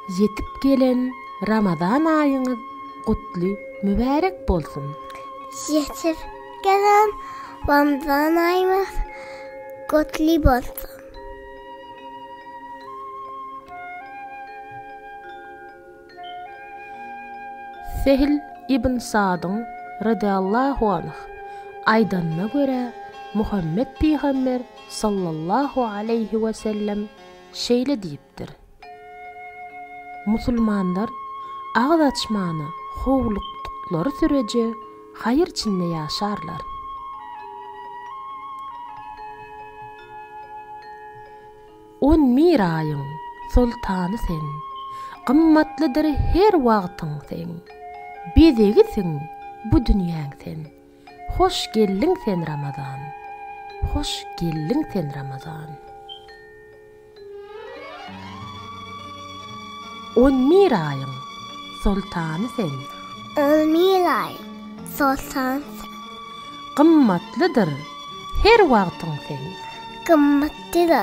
Ýetip gelen Ramazan aýyňyz gutly mübärek bolsun! Ýetip gelen Ramazan aýyňyz gutly bolsun! Sehl ibn Sadyň, radallahu anh, aýdanyna görä, Muhammet pygamber, sallallahu aleýhi we sellem, şeýle diýipdir, Musulmanlar agyz açmany howlukdyklary süreje haýyr içinde ýaşarlar. On miraýyň soltany sen. Gymmatlydyr her wagtyň seň. Bezegisiň bu dünýäň sen. Hoş geldiň sen Ramazan. Hoş geldiň sen Ramazan. On miraýyň soltany sen. On miraýyň soltany sen. Gymmatlydyr her wagtyň seň. Gymmatlydyr. Diňe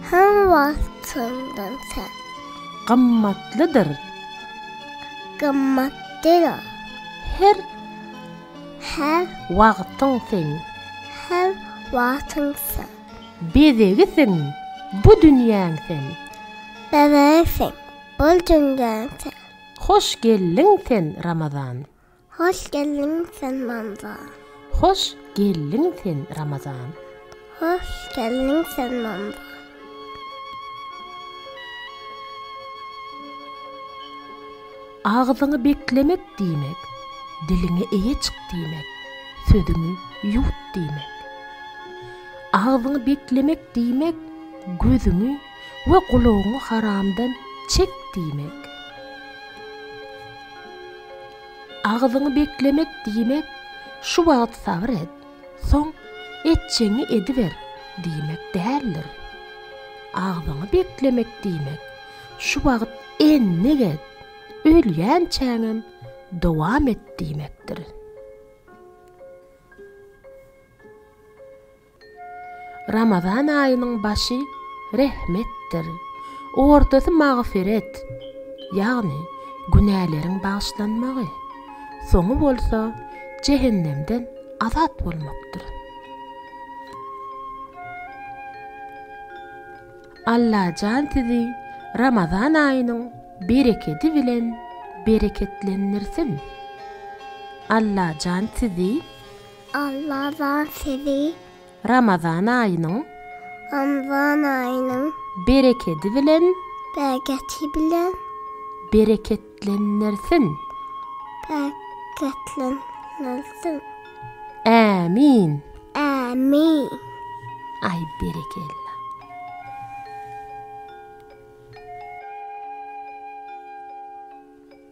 hem wagtyndan sen. Gymmatlydyr. Gymmat diňe. Her. Her. Wagtyň sen. Her wagtyň sen. Bezegi sen. Bu dünýäň sen. Bezegi sen. Bu dünýäň sen. Hoş geldiň sen Ramazan. Hoş geldiň sen Mamza. Hoş geldiň sen Ramazan. Hoş geldiň sen Mamza. Agzyňy beklemek diýmek, diliňe eýe çyk diýmek, sözüňi ýuwt diýmek. Agzyňy beklemek diýmek, gözüňi we gulagyňy haramdan çek diýmek. Agzyňy beklemek diýmek şu wagt sabyr et, soň etjegiňi ediber diýmek däldir. Agzyňy beklemek diýmek şu wagt endik et, ölýänçäňem dowam et diýmekdir. Ramazan aýynyň başy rehmetdir, ortasy magfyret, ýagny günäleriň bagyşlanmagy, soňy bolsa jehennemden azat bolmakdyr. Allajan sizi Ramazan aýynyň berekedi bilen bereketlendirsin! Allajan sizi Alla zat sizi. Ramazan aýynyň. Ramazan aýynyň. Berekedi bilen. Bereketi bilen. Bereketlendirsin. Bereketlendirsin. Ämin. Ämin. Aý berekella.